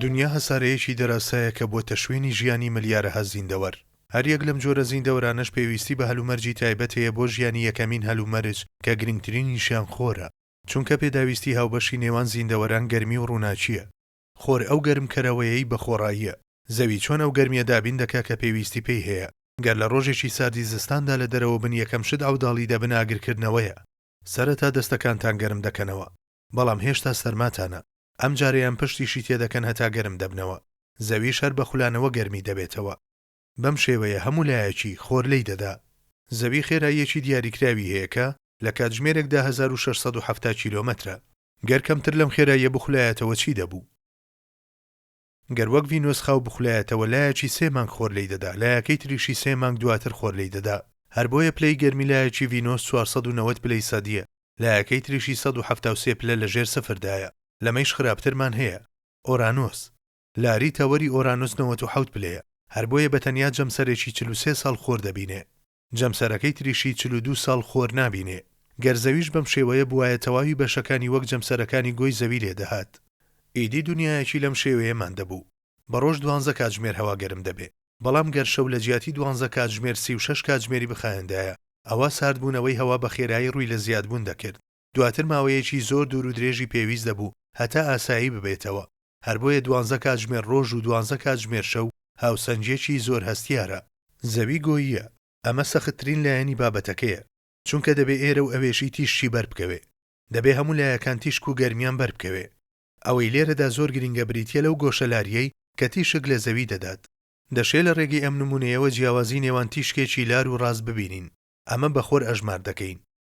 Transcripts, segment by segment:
دونیا هەسارەیەکی دەراسایە کە بۆتە شوێنی ژیانی ملیارەها زیندەوەر. هەریەک لەم جۆرە زیندەوەرانەش پێویستی بە هەلومەرجی تایبەت هەیە بۆ ژیانی یەکەمین هەلومەرج کە گرنگترینیشیان خۆرە، چونکە پێداویستی هاوبەشی نێوان زیندەوەران گەرمی و ڕووناکییە. خۆر ئەو گەرمکەرەوەیەی بە خۆڕاییە زەوی چۆن ئەو گەرمیە دابین دەکا کە پێویستی پێی هەیە. گەر لە ڕۆژێکی ساردی زستاندا لە دەرەوە بن یەکەم شت عەوداڵی دەبن ئاگرکردنەوەیە. سەرەتا دەستەکانتان گەرم دەکەنەوە بەڵام هێشتا سەرماتانە ئەم جارەیان پشتیشی تێ دەکەن هەتا گەرم دەبنەوە زەویش هەر بە خولانەوە گەرمی دەبێتەوە بەم شێوەیە هەموو لایەکی خۆر لێی دەدا. زەوی خێراییەکی دیاریکراوی هەیە کە لە کاتژمێرێکدا هەزار و شەش سەد و حەفتا کیلۆمەترە. گەر کەمتر لەم خێراییە بخولایەتەوە چی دەبو؟ گەر وەک ڤینۆس خاو بخولایەتەوە لایەکی سێ مانگ خۆر لێی دەدا لایەکەی تریشی سێ مانگ دواتر خۆر لێی دەدا هەر بۆیە پلەی گەرمی لایەکی ڤینۆس چوار سەد و نەوەد پلەی سەدیە لایەکەی تریشی سەد و حەفتا و سێ پلە لە ژێر سفر دایە لەمەیش خراپترمان هەیە ئۆرانۆس لاری تەوەری ئۆرانۆس نەوەت و حەوت پلەیە هەر بۆیە بە تەنیا جەمسەرێکی چل و سێ ساڵ خۆر دەبینێ. جەمسەرەکەی تریشی چل و دوو ساڵ خۆر نابینێ. گەر زەویش بەم شێوەیە بوایە تەواوی بەشەکانی وەک جەمسەرەکانی گۆی زەوی لێ دەهات. ئیدی دونیایەکی لەم شێوەیەمان دەبوو. بە ڕۆژ دوانزە کاتژمێر هەوا گەرم دەبێ. بەڵام گەر شەو لە جیاتی دوانزە کاتژمێر سی و شەش کاتژمێری بخایەندایە، ئەوا ساردبوونەوەی هەوا بە خێرایی ڕووی لە زیادبوون دەکرد. دواتر ماوەیەکی زۆر دوور و درێژی پێویست دەبوو هەتا ئاسایی ببێتەوە، هەر بۆیە دوانزە کاتژمێر ڕۆژ و دوانزە کاتژمێر شەو هاوسەنگییەکی زۆر هەستیارە. زەوی گۆییە، ئەمە سەختترین لایەنی بابەتەکەیە، چونکە دەبێ ئێرە و ئەوێشی تیشکی بەر بکەوێ. دەبێ هەموو لایەکان تیشک و گەرمیان بەر بکەوێ. ئەوەی لێرەدا زۆر گرینگە بریتییە لەو گۆشەلارییەی کە تیشک لە زەوی دەدات. دەشێ لە ڕێگەی ئەم نموونەیەوە جیاوازی نێوان تیشکێکی لار و ڕاست ببینین، ئەمە بە خۆر ئەژمار دەکەین.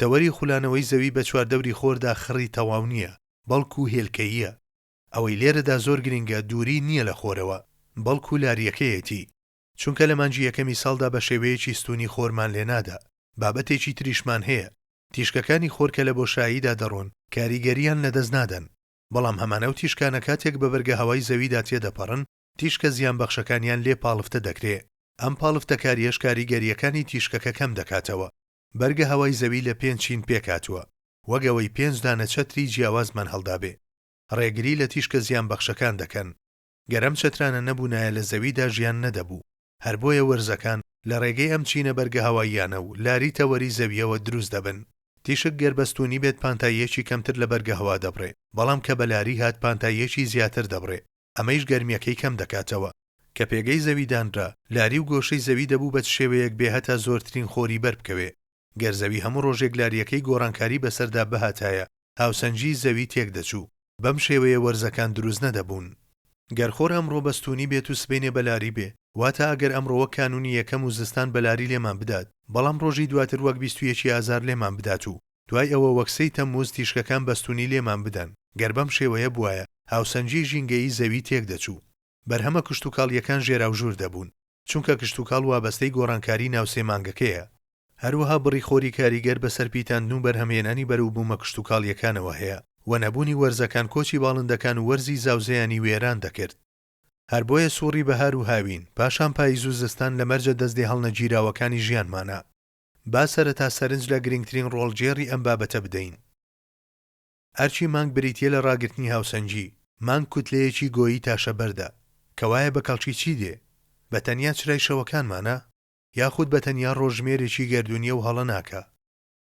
تەوەری خولانەوەی زەوی بە چواردەوری خۆردا خڕی تەواو نییە، بەڵکو هێلکەییە. ئەوەی لێرەدا زۆر گرنگە دووری نییە لە خۆرەوە، بەڵکو لارییەکەیەتی. چونکە لە مانگی یەکەمی ساڵدا بە شێوەیەکی ستوونی خۆرمان لێنادا. بابەتێکی تریشمان هەیە. تیشکەکانی خۆر کە لە بۆشاییدا دەڕۆن، کاریگەرییان لەدەست نادەن. بەڵام هەمان ئەو تیشکانە کاتێک بە بەرگەهەوای زەویدا تێدەپەڕن، تیشکە زیانبەخشەکانیان لێ پاڵفتە دەکرێ. ئەم پاڵفتەکارییەش کاریگەرییەکانی تیشکەکە کەم دەکاتەوە. بەرگە هەوای زەوی لە پێنج چین پێکهاتووە، وەک ئەوەی پێنج دانە چەتری جیاوازمان هەڵدابێ. ڕێگری لە تیشکە زیانبەخشەکان دەکەن. گەر ئەم چەترانە نەبوونایە لە زەویدا ژیان نەدەبوو. هەر بۆیە وەرزەکان لە ڕێگەی ئەم چینە بەرگە هەواییانە و لاری تەوەری زەوییەوە دروست دەبن. تیشک گەر بەستوونی بێت پانتاییەکی کەمتر لە بەرگە هەوا دەبڕێ، بەڵام کە بە لاری هات پانتاییەکی زیاتر دەبڕێ. ئەمەیش گەرمیەکەی کەم دەکاتەوە. کە پێگەی زەوی دانرا، لاری و گۆشەی زەوی دەبوو بە چ شێوەیەک بێ هەتا زۆرترین خۆری بەر بکەوێ. گەر زەوی هەموو ڕۆژێک لاریەکەی گۆڕانکاری بەسەردا بهاتایە، هاوسەنگیی زەوی تێک دەچوو. بەم شێوەیە وەرزەکان دروست نەدەبوون. گەر خۆر ئەمڕۆ بەستوونی بێت و سبەینێ بە لاری بێ، واتا ئەگەر ئەمڕۆ وەک کانوونی یەکەم و زستان بە لاری لێمان بدات، بەڵام ڕۆژی دواتر وەک بیست و یەکی ئازار لێمان بدات و دوای ئەوە وەک سێی تەمموز تیشکەکان بەستوونی لێمان بدەن، گەر بەم شێوەیە بوایە، هاوسەنگیی ژینگەیی زەوی تێکدەچوو. بەرهەمە کشتوکاڵییەکان ژێراوژوور دەبوون، چونکە کشتوکاڵ وابەستەی گۆڕانکاریی ناو سێ مانگەکەیە. هەروەها بڕی خۆری کاریگەر بەسەر پیتاندن و بەرهەمهێنانی بەرەو بوومە کشتوکاڵییەکانەوە هەیە و نەبوونی وەرزەکان کۆچی باڵندەکان و وەرزی زاوزێیانی وێران دەکرد. هەر بۆیە سووڕی بەهار و هاوین، پاشان پاییز و زستان لە مەرجە دەستێهەڵنەگیراوەکانی ژیانمانە. با سەرەتا سەرنج لە گرنگترین ڕۆڵگێڕی ئەم بابەتە بدەین. ئەرکی مانگ بریتییە لە ڕاگرتنی هاوسەنگی. مانگ کوتلەیەکی گۆیی تاشە بەردە. کەوایە بە کەڵکی چی دێ؟ بە تەنیا چرای شەوەکانمانە؟ یاخود بە تەنیا ڕۆژژمێرێکی گەردوونییە و هەڵە ناکا؟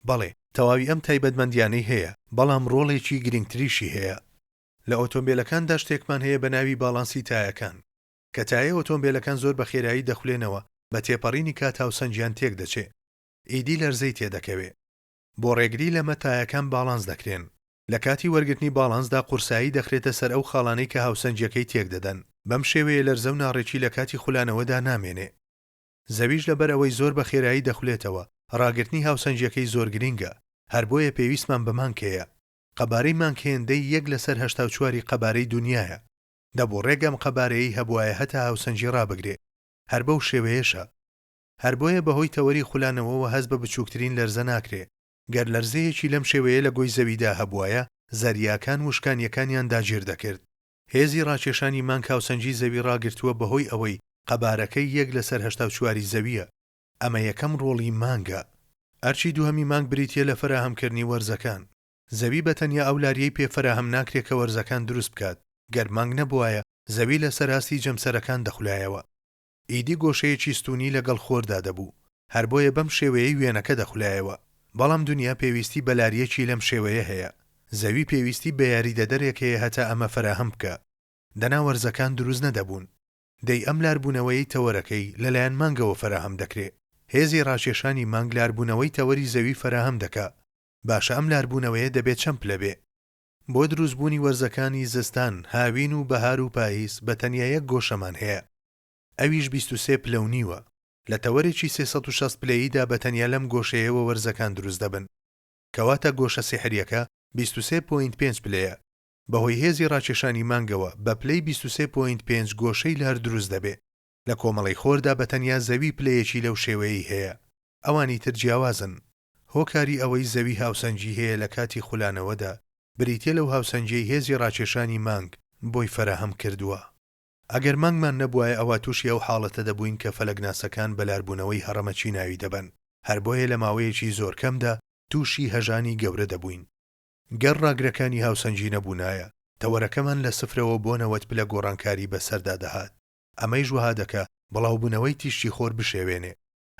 بەڵێ، تەواوی ئەم تایبەتمەندییانەی هەیە، بەڵام ڕۆڵێکی گرنگتریشی هەیە. لە ئۆتۆمبێلەکاندا شتێکمان هەیە بە ناوی باڵانسی تایەکان. کە تایەی ئۆتۆمبێلەکان زۆر بە خێرایی دەخولێنەوە، بە تێپەڕینی کات هاوسەنگیان تێک دەچێ. ئیدی لەرزەی تێ دەکەوێ. بۆ ڕێگری لەمە تایەکان باڵانس دەکرێن. لە کاتی وەرگرتنی باڵانسدا قورسایی دەخرێتە سەر ئەو خاڵانەی کە هاوسەنگیەکەی تێک دەدەن. بەم شێوەیە لەرزە و ناڕێکی لە کاتی خولانەوەدا نامێنێ. زەویش لە بەر ئەوەی زۆر بە خێرایی دەخولێتەوە، ڕاگرتنی هاوسەنگیەکەی زۆر گرینگە. هەر بۆیە پێویستمان بە مانگ هەیە. قەبارەی مانگ هێندەی یەک لە سەر هەشتا و چواری قەبارەی دونیایە. دەبوو ڕێک ئەم قەبارەیەی هەبوایە هەتا هاوسەنگی ڕابگرێ. هەر بەو شێوەیەشە. هەر بۆیە بە هۆی تەوەری خولانەوەوە هەست بە بچووکترین لەرزە ناکرێ. گەر لەرزەیەکی لەم شێوەیە لە گۆی زەویدا هەبوایە، زەریاکان وشکانییەکانیان داگیر دەکرد. هێزی ڕاکێشانی مانگ هاوسەنگی زەوی ڕاگرتووە بە هۆی ئەوەی قەبارەکەی یەک لە سەر هەشتا و چواری زەوییە. ئەمە یەکەم ڕۆڵی مانگە. ئەرکی دووهەمی مانگ بریتییە لە فەراهەمکردنی وەرزەکان. زەوی بە تەنیا ئەو لاریەی پێ فەراهەم ناکرێ کە وەرزەکان دروست بکات، گەر مانگ نەبوایە زەوی لە سەر ئاستی جەمسەرەکان دەخولایەوە. ئیدی گۆشەیەکی ستوونی لە گەڵ خۆردا دەبوو. هەر بۆیە بەم شێوەیەی وێنەکە دەخولایەوە. بەڵام دونیا پێویستی بە لاریەکی لەم شێوەیە هەیە. زەوی پێویستی بە یاریدەدەرێک هەیە هەتا ئەمە فەراهەم بکا. دەنا وەرزەکان دروست نەدەبوون. دەی ئەم لاربوونەوەیەی تەوەرەکەی لە لایەن مانگەوە فەراهەم دەکرێ. هێزی ڕاکێشانی مانگ لاربوونەوەی تەوەری زەوی فەراهەم دەکا. باشە ئەم لاربوونەوەیە دەبێ چەند پلە بێ؟ بۆ دروست بوونی وەرزەکانی زستان، هاوین و بەهار و پاییز بە تەنیا یەک گۆشەمان هەیە ئەویش بیست و سێ پلە و نیوە. لە تەوەرێکی سێ سەد و شەست پلەییدا بە تەنیا لەم گۆشەیەوە وەرزەکان دروست دەبن. کەواتە گۆشە سیحریەکە بیست و سێ پۆینت پێنج پلەیە. بە هۆی هێزی ڕاکێشانی مانگەوە بە پلەی بیست و سێ پۆینت پێنج گۆشەی لار دروست دەبێ. لە کۆمەڵەی خۆردا بە تەنیا زەوی پلەیەکی لەو شێوەیەی هەیە. ئەوانی تر جیاوازن. هۆکاری ئەوەی زەوی هاوسەنگی هەیە لە کاتی خولانەوەدا، بریتییە لەو هاوسەنگیەی هێزی ڕاکێشانی مانگ بۆی فەراهەم کردووە. ئەگەر مانگمان نەبوایە ئەوا تووشی ئەو حاڵەتە دەبووین کە فەلەکناسەکان بە لاربوونەوەی هەڕەمەکی ناوی دەبەن، هەر بۆیە لە ماوەیەکی زۆر کەمدا تووشی هەژانی گەورە دەبووین. گەر ڕاگرەکانی هاوسەنگی نەبوونایە، تەوەرەکەمان لە سفرەوە بۆ نەوەد پلە گۆڕانکاری بەسەردا دەهات، ئەمەیش وەها دەکا بڵاوبوونەوەی تیشکی خۆر بشێوێنێ.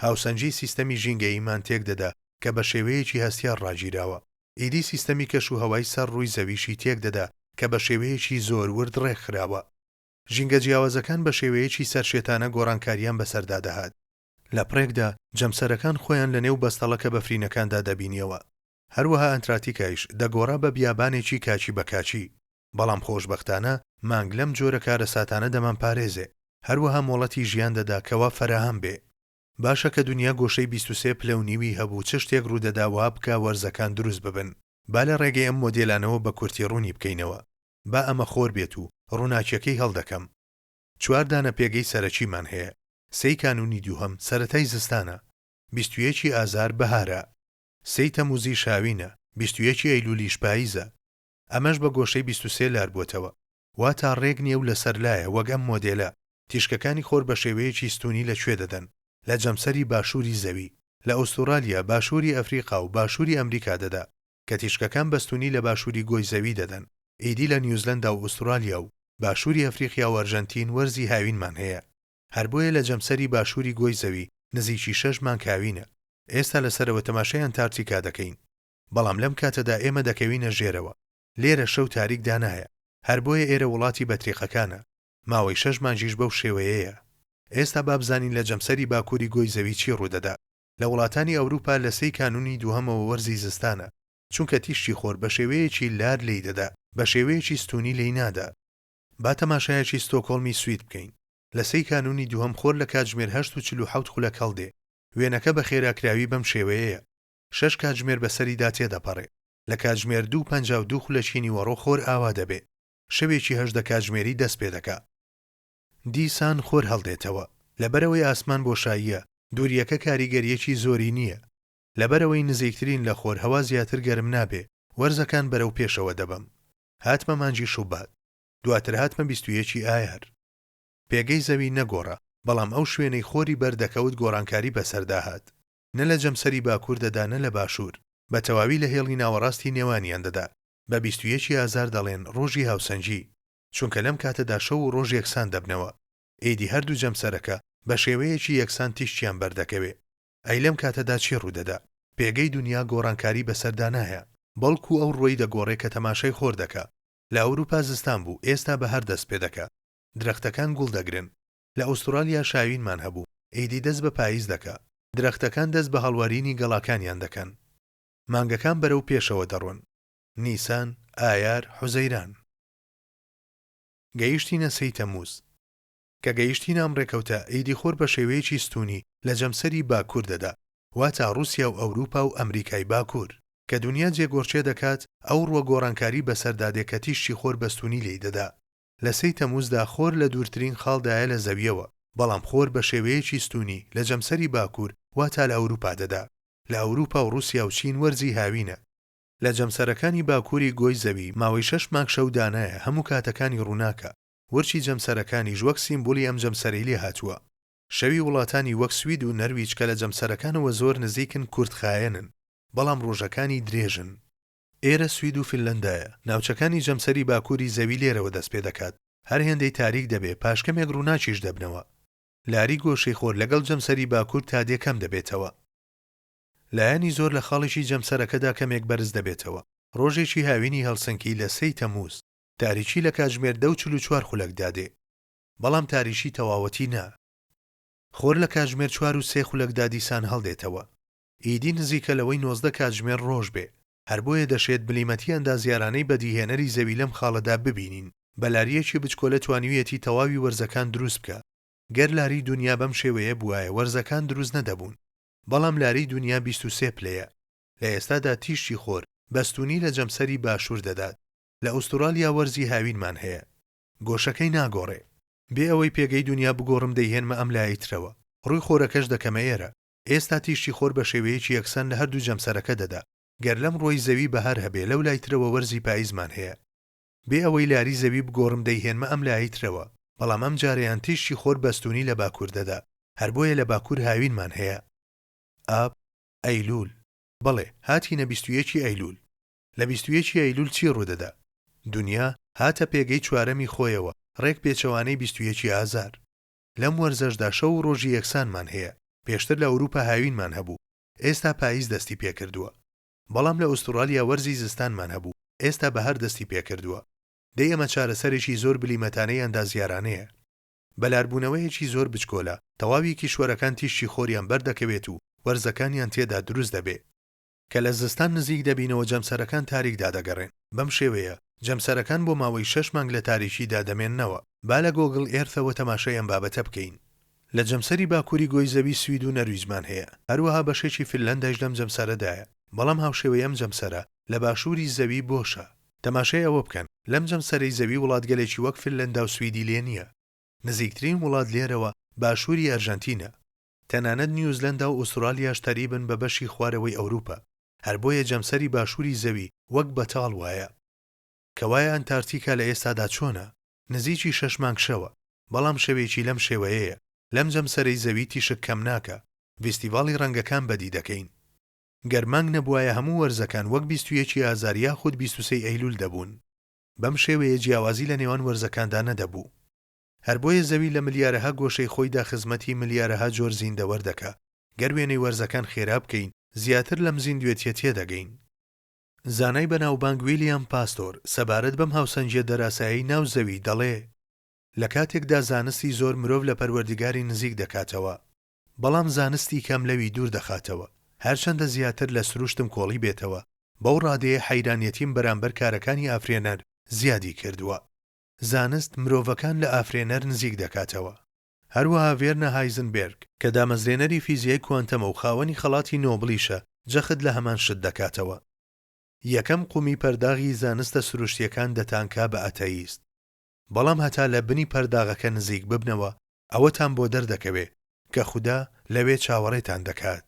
هاوسەنگیی سیستەمی ژینگەییمان تێک دەدا کە بە شێوەیەکی هەستیار ڕاگیراوە. ئیدی سیستەمی کەش و هەوای سەر ڕووی زەویشی تێک دەدا کە بە شێوەیەکی زۆر ورد ڕێک خراوە. ژینگە جیاوازەکان بە شێوەیەکی سەرشێتانە گۆڕانکارییان بەسەردا دەهات. لە پڕێکدا، جەمسەرەکان خۆیان لە نێو بەستەڵەکە بەفرینەکاندا دەبینییەوە. هەروەها ئەنتراتیکایش دەگۆڕا بە بیابانێکی کاکی بە کاکی. بەڵام خۆشبەختانە مانگ لەم جۆرە کارەساتانە دەمانپارێزێ، هەروەها مۆڵەتی ژیان دەدا کەوا فەراهەم بێ. باشە کە دونیا گۆشەی بیست و سێ پلەو نیوی هەبوو چ شتێک ڕوودەدا وا بکا وەرزەکان دروست ببن؟ با لە ڕێگەی ئەم مۆدێلانەوە بە کورتی ڕوونی بکەینەوە. با ئەمە خۆر بێت و ڕووناکیەکەی هەڵدەکەم. چوار دانە پێگەی سەرەکیمان هەیە. سێی کانوونی دووهەم سەرەتای زستانە. بیست و یەکی ئازار بەهارە. سێی تەمووزیش هاوینە. بیست و یەکی ئەیلوولیش پاییزە. ئەمەش بە گۆشەی بیست و سێ لار بووەتەوە واتا ڕێک نیە و لە سەر لایە وەک ئەم مۆدێلە تیشکەکانی خۆر بە شێوەیەکی ستوونی لە کوێ دەدەن لە جەمسەری باشووری زەوی لە ئوستورالیا باشووری ئەفریقا و باشووری ئەمریکا دەدا کە تیشکەکان بە ستوونی لە باشووری گۆی زەوی دەدەن ئیدی لە نیوزلەندا و ئوستورالیا و باشووری ئەفریقیا و ئەرژەنتین وەرزی هاوینمان هەیە هەر بۆیە لە جەمسەری باشووری گۆی زەوی نزیکی شەش مانگ هاوینە ئێستا لە سەرەوە تەماشای ئەنتارتیکا دەکەین. بەڵام لەم کاتەدا ئێمە دەکەوینە ژێرەوە، لێرە شەو تاریک دانایە، هەر بۆیە ئێرە وڵاتی بەتریقەکانە، ماوەی شەش مانگیش بەو شێوەیەیە. ئێستا با بزانین لە جەمسەری باکووری گۆی زەوی چی ڕوودەدا. لە وڵاتانی ئەوروپا لە سێی کانوونی دووهەمەوە وەرزی زستانە، چونکە تیشکی خۆر بە شێوەیەکی لار لێی دەدا، بە شێوەیەکی ستوونی لێی نادا. با تەماشایەکی ستۆکهۆڵمی سوید بکەین، لە سێی کانوونی دووهەم خۆر لە کاتژمێر هەشت و چل و حەوت خولەک هەڵدێ، وێنەکە بە خێراکراوی بەم شێوەیەیە. شەش کاتژمێر بەسەریدا تێدەپەڕێ. لە کاتژمێر دوو پەنجا و دوو خولەکی نیوەڕۆ خۆر ئاوا دەبێ. شەوێکی هەژدە کاتژمێری دەست پێ دەکا. دیسان خۆر هەڵدێتەوە. لەبەرئەوەی ئاسمان بۆشاییە، دوورییەکە کاریگەرییەکی زۆری نییە. لەبەرئەوەی نزیکترین لە خۆر هەوا زیاتر گەرم نابێ، وەرزەکان بەرەو پێشەوە دەبەم. هاتمە مانگی شوبات. دواتر هاتمە بیست و یەکی ئایار. پێگەی زەوی نەگۆڕا، بەڵام ئەو شوێنەی خۆری بەر دەکەوت گۆڕانکاری بەسەردا هات. نە لە جەمسەری باکوور دەدا نە لە باشوور، بە تەواوی لە هێڵی ناوەڕاستی نێوانیان دەدا. بە بیست و یەکی ئازار دەڵێن ڕۆژی هاوسەنگی، چونکە لەم کاتەدا شەو و ڕۆژ یەکسان دەبنەوە. ئیدی هەردوو جەمسەرەکە بە شێوەیەکی یەکسان تیشکیان بەردەکەوێ. ئەی لەم کاتەدا چی ڕوو دەدا؟ پێگەی دونیا گۆڕانکاری بەسەردا نایە، بەڵکوو ئەو ڕووەی دەگۆڕێ کە تەماشای خۆر دەکا. لە ئەورووپا زستان بوو، ئێستا بەهار دەست پێ دەکا. درەختەکان گوڵ دەگرن. لە ئوسترالیا شاوینمان هەبوو، ئیدی دەست بە پایز دەکا. درەختەکان دەست بە هەڵوەرینی گەڵاکانیان دەکەن. مانگەکان بەرەو پێشەوە دەڕۆن. نیسان، ئایار، حوزەیران. گەیشتینە سێی تەمووز. کە گەیشتینە ئەم ڕێکەوتە، ئیدی خۆر بە شێوەیەکی ستوونی لە جەمسەری باکوور دەدا، واتە ڕووسیا و ئەورووپا و ئەمریکای باکوور. کە دونیا جێگۆڕکێ دەکات، ئەو ڕووە گۆڕانکاری بەسەردا دێ کە تیشکی خۆر بە ستوونی لێی دەدا. لە سێی تەمووزدا خۆر لە دوورترین خاڵدایە لە زەوییەوە، بەڵام خۆر بە شێوەیەکی ستوونی لە جەمسەری باکوور واتا لە ئەوروپا دەدا. لە ئەوروپا و ڕووسیا و چین وەرزی هاوینە. لە جەمسەرەکانی باکووری گۆی زەوی ماوەی شەش مانگ شەو دانایە هەموو کاتەکانی ڕووناکە. ورچی جەمسەرەکانیش وەک سیمبولی ئەم جەمسەرەی لێ هاتووە. شەوی وڵاتانی وەک سوید و نەرویج کە لە جەمسەرەکانەوە زۆر نزیکن کورتخایەنن، بەڵام ڕۆژەکانی درێژن. ئێرە سوید و فنلەندایە. ناوچەکانی جەمسەری باکووری زەوی لێرەوە دەست پێ دەکات. هەر هێندەی تاریک دەبێ، پاش کەمێک ڕووناکیش دەبنەوە. لاری گۆشەی خۆر لەگەڵ جەمسەری باکوور تا دێ کەم دەبێتەوە. لایەنی زۆر لە خاڵێکی جەمسەرەکەدا کەمێک بەرز دەبێتەوە. ڕۆژێکی هاوینی هەلسنکی لە سێی تەمووز. تاریکی لە کاتژمێر دە و چل و چوار خولەکدا دێ. بەڵام تاریکی تەواوەتی نا. خۆر لە کاتژمێر چوار و سێ خولەکدا دیسان هەڵدێتەوە. ئیدی نزیکە لەوەی نۆزدە کاتژمێر ڕۆژ بێ، هەر بۆیە دەشێت بلیمەتی ئەندازیارانەی بەدیهێنەری زەوی لەم خاڵەدا ببینین، بە لارییەکی بچکۆلە توانیویەتی تەواوی وەرزەکان دروست بکا، گەر لاری دونیا بەم شێوەیە بوایە وەرزەکان دروست نەدەبوون، بەڵام لاری دونیا بیست و سێ پلەیە، لە ئێستادا تیشکی خۆر، بەستوونی لە جەمسەری باشوور دەدات، لە ئوستوڕالیا وەرزی هاوینمان هەیە. گۆشەکەی ناگۆڕێ. بێ ئەوەی پێگەی دونیا بگۆڕم دەیهێنمە ئەم لایەی ترەوە، ڕووی خۆرەکەش دەکەمە ئێرە، ئێستا تیشکی خۆر بە شێوەیەکی یەکسان لە هەردوو جەمسەرەکە دەدا، گەر لەم ڕوەی زەوی بەهار هەبێ لەو لای ترەوە وەرزی پایزمان هەیە. بێ ئەوەی لاری زەوی بگۆڕم دەیهێنمە ئەم لایەی ترەوە، بەڵام ئەم جارەیان تیشکی خۆر بەستوونی لە باکوور دەدا، هەر بۆیە لە باکوور هاوینمان هەیە. ئاب، ئەیلوول. بەڵێ، هاتینە بیست و یەکی ئەیلوول. لە بیست و یەکی ئەیلوول چی ڕوو دەدا؟ دونیا هاتە پێگەی چوارەمی خۆیەوە، ڕێک پێچەوانەی بیست و یەکی ئازار. لەم وەرزەشدا شەو و ڕۆژی یەکسانمان هەیە، پێشتر لە ئەوروپا هاوینمان هەبوو، ئێستا پاییز دەستی پێکردووە. بەڵام لە ئوستوڕالیا وەرزی زستانمان هەبوو، ئێستا بەهار دەستی پێکردووە. دەی ئەمە چارەسەرێکی زۆر بلیمەتانەی ئەندازیارانەیە. بەلاربوونەوەیەکی زۆر بچکۆلە، تەواوی کیشوەرەکان تیشکی خۆریان بەردەکەوێت و وەرزەکانیان تێدا دروست دەبێ. کە لە زستان نزیک دەبینەوە جەمسەرەکان تاریکدا دەگەڕێن، بەم شێوەیە جەمسەرەکان بۆ ماوەی شەش مانگ لە تاریکیدا دەمێننەوە. با لە گۆگڵ ئێرثەوە تەماشای ئەم بابەتە بکەین. لە جەمسەری باکووری گۆی زەوی سوید و نەرویجمان هەیە، هەروەها بەشێکی فنلەندایش لەم جەمسەرەدایە، بەڵام هاوشێوەی ئەم جەمسەرە لە باشووری زەوی بۆشە. تەماشای ئەوە بکەن لەم جەمسەرەی زەوی وڵاتگەلێکی وەک فنلەندا و سویدی لێ نییە. نزیکترین وڵات لێرەوە باشووری ئەرژەنتینە. تەنانەت نیوزلەندا و ئوسترالیاش تەریبن بە بەشی خوارەوەی ئەوروپا، هەر بۆیە جەمسەری باشووری زەوی وەک بەتاڵ وایە. کەوایە ئەنتارتیکا لە ئێستادا چۆنە؟ نزیکی شەش مانگ شەوە، بەڵام شەوێکی لەم شێوەیەیە، لەم جەمسەرەی زەوی تیشک کەم ناکا، ڤیستیڤاڵی ڕەنگەکان بەدی دەکەین. گەر مانگ نەبوایە هەموو وەرزەکان وەک بیست و یەک ی ئازار یاخود بیست و سێ ی ئەیلول دەبوون. بەم شێوەیە جیاوازی لە نێوان وەرزەکاندا نەدەبوو. هەر بۆیە زەوی لە ملیارەها گۆشەی خۆیدا خزمەتی ملیارەها جۆر زیندەوەر دەکا. گەر وێنەی وەرزەکان خێرا بکەین، زیاتر لەم زیندوێتیە تێدەگەین. زانای بەناوبانگ ویلیام پاستۆر سەبارەت بەم هاوسەنگیە دەراسایەی ناو زەوی دەڵێ، لە کاتێکدا زانستی زۆر مرۆڤ لە پەروەردگاری نزیک دەکاتەوە، بەڵام زانستی کەم لەوی دوور دەخاتەوە، هەرچەندە زیاتر لە سروشتم کۆڵی بێتەوە، بەو ڕادەیە حەیرانیەتیم بەرامبەر کارەکانی ئافرێنەر زیادی کردوە. زانست مرۆڤەکان لە ئافرێنەر نزیک دەکاتەوە. هەروەها ڤێرنە هایزنبێرگ، کە دامەزرێنەری فیزیای کوانتەمە و خاوەنی خەڵاتی نۆبڵیشە، جەخت لە هەمان شت دەکاتەوە. یەکەم قومی پەرداغی زانستە سروشتییەکان دەتانکا بە ئەتەیست. بەڵام هەتا لە بنی پەرداغەکە نزیک ببنەوە، ئەوەتان بۆ دەردەکەوێ کە خودا لەوێ چاوەڕێتان دەکات.